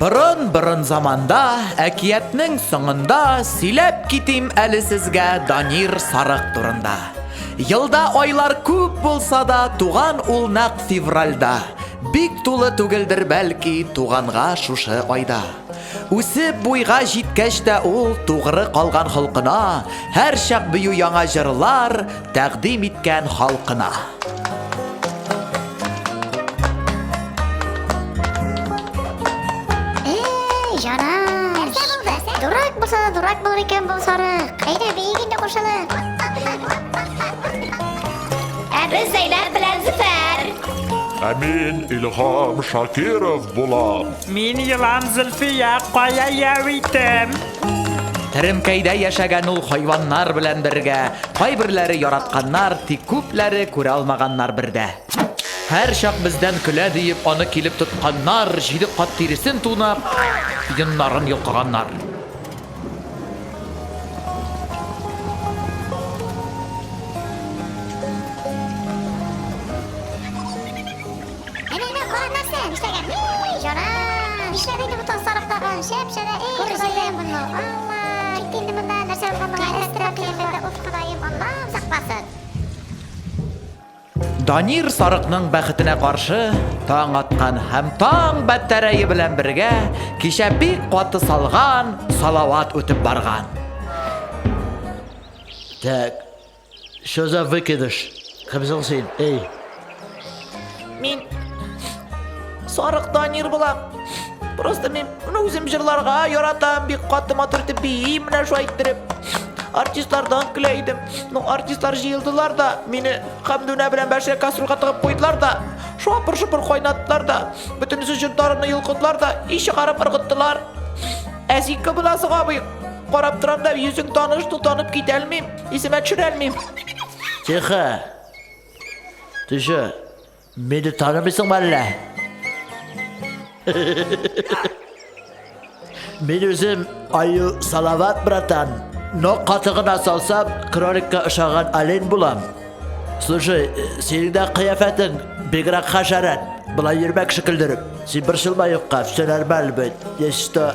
Борын-борын заманда, әкиятнең соңында сөйләп китим әле сезгә Данир Сарык турында. Елда айлар күп булса да, туган ул нәкъ февральда. Бик тулы түгелдер бәлки туганга шушы айда. Үсеп буйга җиткәч тә ул тугры калган холкына, һәр чак бию яңа җырлар, Тәкъдим иткән халкына. Дурак булыр икән бу сарык. Әйдә, биек инде кушылып. Ә без Зәйләр белән Зөфәр. Ә мин Илһам Шакиров булам. Мин Елан Зөлфия кая яу итәм. Теремкәйдә яшәгән ул хайваннар белән бергә, кайберләре яратканнар, тик күпләре күрә алмаганнар бер дә. Һәрчак бездән көлә диеп, аны килеп тотканнар, җиде кат тиресен тунап, йоннарын йолкыганнар. Данир сарыкның бәхетенә каршы таң аткан һәм таң бәтәрәе белән бергә кичә бик каты салган салават үтеп барган. Так, Что за выкидыш? Кем соң син, эй? Мин сарык Данир булам. Просто мин моны үзем җырларга яратам, бик каты матур итеп биим менә шулай иттереп. Артистлардан көлә идем. Ну, артистлар җыелдылар да, мине Хәмдүнә белән Бәширә кастрюльга тыгып куйдылар да, шапыр-шупыр кайнаттылар да, бөтенесе җырдарымны йолкыдылар да, и чыгарып ыргыттылар. Ә син кем буласың, абый? Карап торам да, йөзең таныш, ну танып китә алмыйм. Исемә төшерәлмим. Тихо. Тише. Мине танымыйсың әллә? Мин үзем Аю Салават братан. Но каты гына салсам, кроликка ошаган олень булам. Слушай, синең дә кыяфәтең бигрәк хәшәрәт. Былай йөрмәк шикелдереп. Син борчылма юкка, все нормально будет. Если что,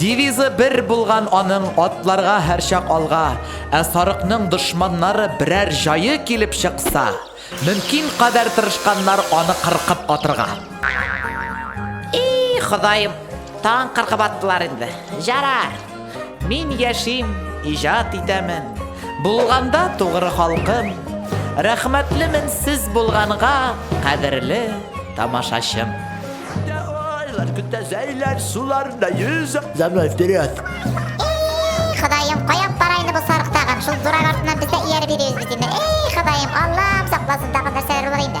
Девизы бер булган аның, Атларга һәрчак алга! Ә сарыкның дошманнары берәр җае килеп чыкса, мөмкин кадәр тырышканнар аны кыркып атырга. И, Ходаем, тагын кыркып аттылар инде. Җарар! Мин яшим, иҗат итәмен. Булганда тугры халкым. Рәхмәтлемен сез булганга, кадерле тамашачым. Көтә айлар, көтә зәйләр, суларда йөзә. За мной вперед! Эй, Ходаем, кая алып бара инде бу сарык тагын? Шул дурак артыннан без дә ияреп йөрибез бит инде. Эй, Ходаем, Аллам сакласын, тагын нәрсәләр булыр инде?